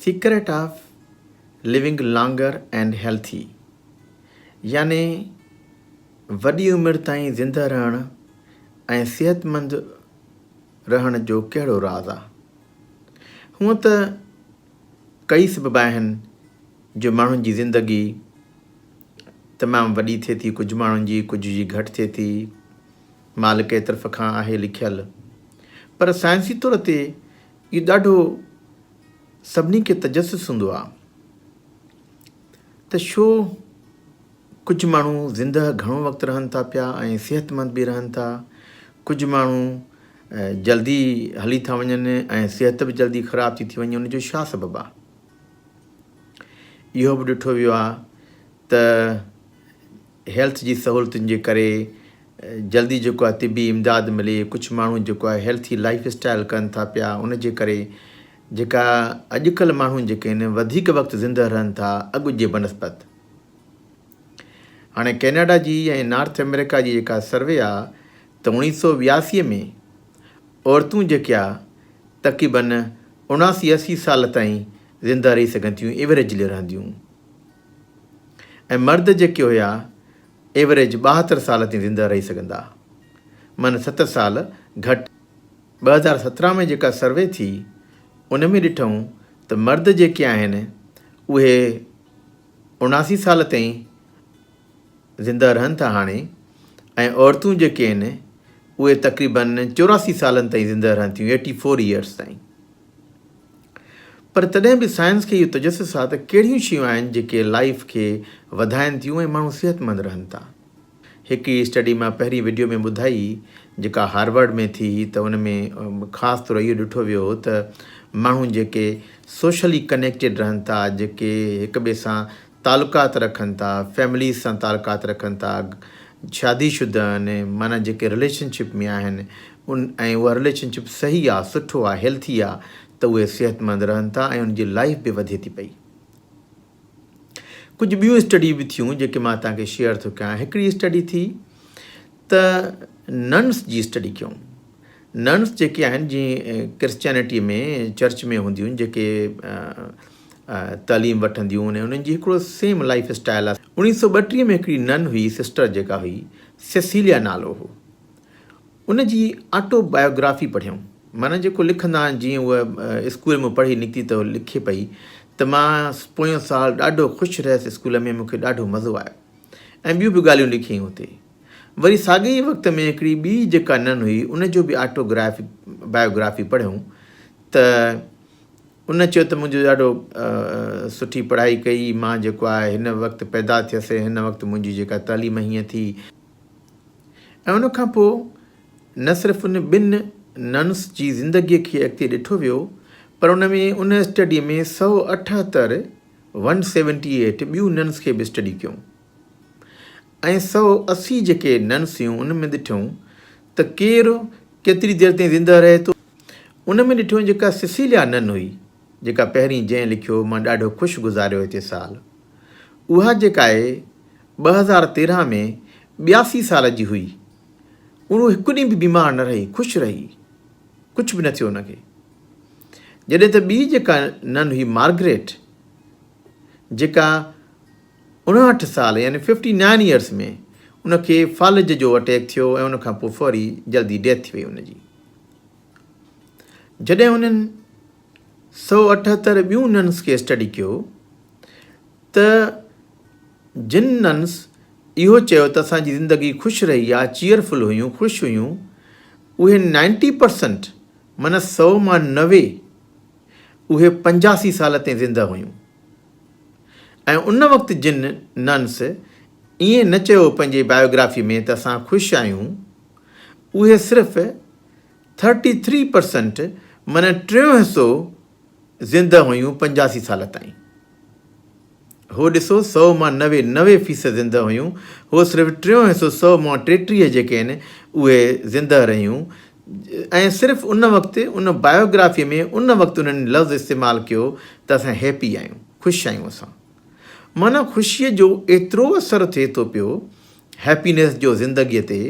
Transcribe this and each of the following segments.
Secret of living longer and healthy يعني وڏي عمر تائين زندهه رهڻ ۽ صحتمند رهڻ جو ڪهڙو راز آ؟ هونئن ته ڪئي سبب آهن جو ماڻهن جي زندگي تمام وڏي ٿئي ٿي ڪجهه ماڻهن جي ڪجهه جي گهٽ ٿئي ٿي مالڪ ئي طرف کان آهي لکيل. پر سائنسي طور تي اهو ڏاڍو سڀني کي تجسس هوندو آهي ته شو ڪجهه ماڻهو زندهه گهڻو وقت رهن ٿا پيا ۽ صحتمند به رهن ٿا ڪجهه ماڻهو جلدي هلي ٿا وڃن ۽ صحت به جلدي خراب ٿي ٿي وڃي ان جو ڇا سبب آهي اهو به ڏٺو ويو آهي ته هيلٿ جي سهولتن جي ڪري جلدي جيڪو آهي طبي امداد ملي ڪجهه ماڻهو جيڪو آهي هيلٿي لائف اسٽائل ڪن ٿا پيا ان جي ڪري جيڪا اڄڪلهه ماڻهو جيڪي آهن وڌيڪ وقت زندهه رهن ٿا اڳ جي بنسبت هاڻي ڪينيڊا جي ۽ نارٿ امريڪا جي جيڪا سروي آ ته اوڻيهه سو وياسي ۾ عورتون جيڪي آ تقريبن اڻاسي اسي سال تائين زندهه رهي سگهن ٿيون ايوريجلي رهنديون ۽ مرد جيڪي هيا ايوريج ٻاهتر سال تائين زنده رهي سگهندا من ستر سال گهٽ. ٻه هزار سترهن ۾ جيڪا سروي ٿي ان ۾ ڏٺئون ته مرد جيڪي آهن اهي اڻاسي سال تائين زنده رهن ٿا هاڻي ۽ عورتون جيڪي آهن اهي تقريبن چوراسي سالن تائين زنده رهن ٿيون ايٽي فور يئرس تائين. پر تڏهن به سائنس کي اهو تجسس آهي ته ڪهڙيون شيون آهن جيڪي لائيف کي وڌائين ٿيون ۽ ماڻهو صحتمند رهن ٿا. هڪ ئي اسٽڊي مان پهرين وڊيو ۾ ٻڌائي جيڪا هارورڊ ۾ ٿي هئي ته ان ۾ خاص طور اهو ڏٺو ويو هو ته ماڻهو جيڪي سوشلي ڪنيڪٽيڊ رهن ٿا، جيڪي هڪ ٻئي سان تعلقات رکن ٿا فيمليز سان تعلقات رکن ٿا شادي شده آهن معنيٰ جيڪي رليشن شپ ۾ آهن ان ۽ اها رليشن شپ صحيح آهي سٺو آهي هيلٿي آهي ته اهي صحت مند رهن ٿا ۽ ان جي لائف به وڌي ٿي پئي ڪجهه ٻيون اسٽڊي به ٿيون جيڪي مان توهان کي شيئر ٿو ڪيان هڪڙي اسٽڊي ٿي ته ننس جي اسٽڊي ڪيون ننس جيڪي آهن جي ڪرسچينٽي ۾ چرچ ۾ هونديون جيڪي تعليم وٺنديون ۽ انهن جي هڪڙو سيم لائف اسٽائل آهي اوڻيهه سؤ ٻٽيهه ۾ هڪڙي نن هئي سسٽر جيڪا هئي سيسيليا نالو هو ان جي آٽو بايوگرافي پڙهيم مانا جيڪو لکندا آهن جيئن هو اسڪول ۾ پڙهي نڪتي ته لکي پئي ته مان پويون سال ڏاڍو خوش رهيس اسڪول ۾ مونکي ڏاڍو مزو آيو ۽ ٻيون به ڳالهيون لکيائين هتي وري ساڳئي ئي وقت ۾ هڪڙي ٻي جيڪا ننهن هئي ان جو به آٽو گرافي بايو گرافي پڙهيم ته ان چيو ته منهنجو ڏاڍو سٺي پڙهائي ڪئي مان جيڪو آهي هن وقت پيدا ٿيس هن وقت منهنجي جيڪا تعليم هيئن ٿي ۽ ان کان پوء نه صرف ان ٻن ننس جي زندگي کي اڳتي ڏٺو ويو پر ان ۾ ان اسٽڊي ۾ سؤ اٺهتر ون سيونٽي ايٽ ٻيون ننس کي به اسٽڊي ڪيون ۽ سؤ اسي جيڪي ننسيون ان ۾ ڏٺيون ته ڪير ڪيتري دير تائين زنده رهي ٿو. ان ۾ ڏٺيون جيڪا سيسيليا نن هئي، جيڪا پهرين جنهن لکيو مان ڏاڍو خوش گذاريو هتي سال. اها جيڪا اي ٻه هزار تيرهن ۾ ٻياسي سال جي هئي، اهو هڪ ڏينهن به بيمار نه رهي، خوش رهي، ڪجهه به نه ٿيو ان کي. جڏهن ته ٻي جيڪا نن هئي مارگريٽ، جيڪا. 59 سال يعني Fifty Nine Years ۾ ان کي فالج جو اٽيڪ ٿيو ۽ ان کان پوء فوري جلدي ڊيٿ ٿي وئي ان جي. جڏهن هنن سؤ اٺهتر ٻيون ننس کي اسٽڊي ڪيو ته جن ننس اهو چيو ته اسان جي زندگي خوش رهي آ چيئر فل هيون خوش هيون اهي نائنٽي پرسنٽ من سؤ مان نوي اهي پنجاسي سال تائين زنده هيون. ۽ ان وقت جن ننس ائين نه چيو پنهنجي بايوگرافي ۾ ته اسان خوش آهيون اهي صرف ٿرٽي ٿري پرسنٽ معنيٰ ٽيون حصو زنده هيون پنجاسي سال تائين هو ڏسو سو مان نوي نوي فيصد زنده هيون هو صرف ٽيون حصو سو مان ٽيٽيهه جيڪي آهن اهي زنده رهيون ۽ صرف ان وقت ان بايوگرافيء ۾ ان وقت انهن لفظ استعمال ڪيو ته اسان هيپي آهيون، خوش آهيون اسان. معنيٰ خوشيء جو ايترو اثر ٿئي ٿو پيو هيپينيس جو زندگيء تي،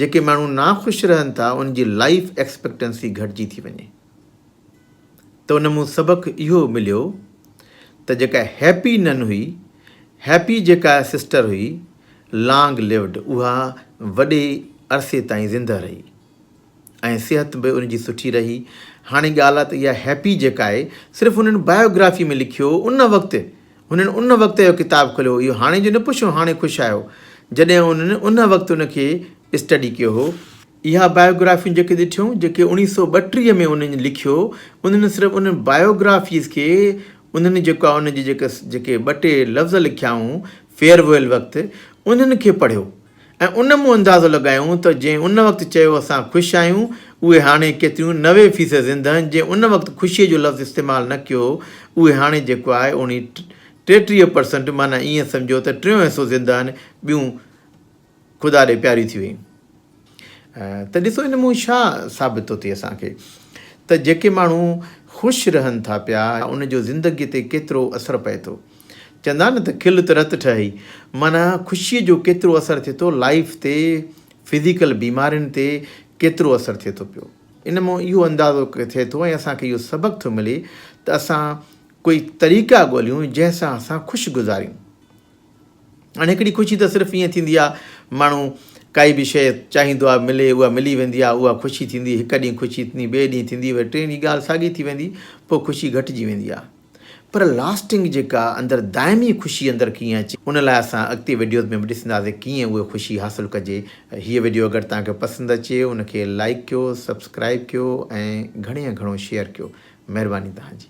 جيڪي ماڻهو ناخوش رهن ٿا ان جي لائيف ايڪسپيڪٽنسي گهٽجي ٿي وڃي. ته ان مون سبق اهو مليو ته جيڪا هيپي نن هئي، هيپي جيڪا سسٽر هئي، لانگ ليوڊ، اها وڏي عرصي تائين زندهه رهي ۽ صحت به ان جي سٺي رهي. هاڻي ڳالهه ته اها هيپي جيڪا آهي، صرف هنن بايوگرافي ۾ لکيو ان وقت، هنن ان وقت اهو ڪتاب کوليو، اهو هاڻي جو نه پڇو هاڻي خوش آهيو، جڏهن هنن ان وقت ان کي اسٽڊي ڪيو هو. اها بايوگرافيون جيڪي ڏٺيون، جيڪي اوڻيهه سؤ ٻٽيهه ۾ انهن لکيو، انهن صرف انهن بايوگرافيز کي انهن جيڪا ان جي جيڪا جيڪي ٻه ٽي لفظ لکيائون فيئرويل وقت، انهن کي پڙهيو ۽ ان مون اندازو لڳايائون ته جنهن ان وقت چيو اسان خوش آهيون، اهي هاڻي ڪيتريون نوي فيصد زندهن جنهن ان وقت خوشيء جو لفظ استعمال نه ڪيو، اهي هاڻي جيڪو آهي اوڻيهه ٽيٽيهه پرسنٽ معنيٰ ائين سمجهو ته ٽيون حصو زندهن ٻيون. خدا ڏي پياري ٿي ويئي ته ڏسو ان مون ڇا ثابت ٿو ٿئي اسان کي ته جيڪي ماڻهو خوش رهن ٿا پيا ان جو زندگي تي ڪيترو اثر پئي ٿو چوندا آهن نه ته کل ته رت ٺهي معنيٰ خوشي جو ڪيترو اثر ٿئي ٿو لائف تي فزيڪل بيمارين تي ڪيترو اثر ٿئي ٿو پيو ان مون اهو اندازو ٿئي ٿو ۽ اسان کي اهو سبق ٿو ملي ته اسان ڪوئي طريقا ڳوليون جنهن سان اسان خوش گذاريون ھاڻي ھڪڙي خوشي ته صرف ائين ٿيندي آ ماڻھو ڪائي به شيء چاھيندو آ ملي اھا ملي ويندي آ اھا خوشي ٿيندي ھڪ ڏينھن خوشي ٿيندي ٻئي ڏينھن ٿيندي وري ٽئين ڏينھن ڳالھ ساڳي ٿي ويندي پوء خوشي گھٽجي ويندي آ پر لاسٽنگ جيڪا اندر دائمي خوشي اندر ڪيئن اچي ان لاء اسان اڳتي وڊيوز ۾ به ڏسنداسي ڪيئن اھا خوشي حاصل ڪجي ھيء وڊيو اگر توھان کي پسند اچي ان کي لائيڪ ڪيو سبسڪرائيب ڪيو ۽ گھڻي ۾ گھڻو شيئر ڪيو مھرباني توھان جي.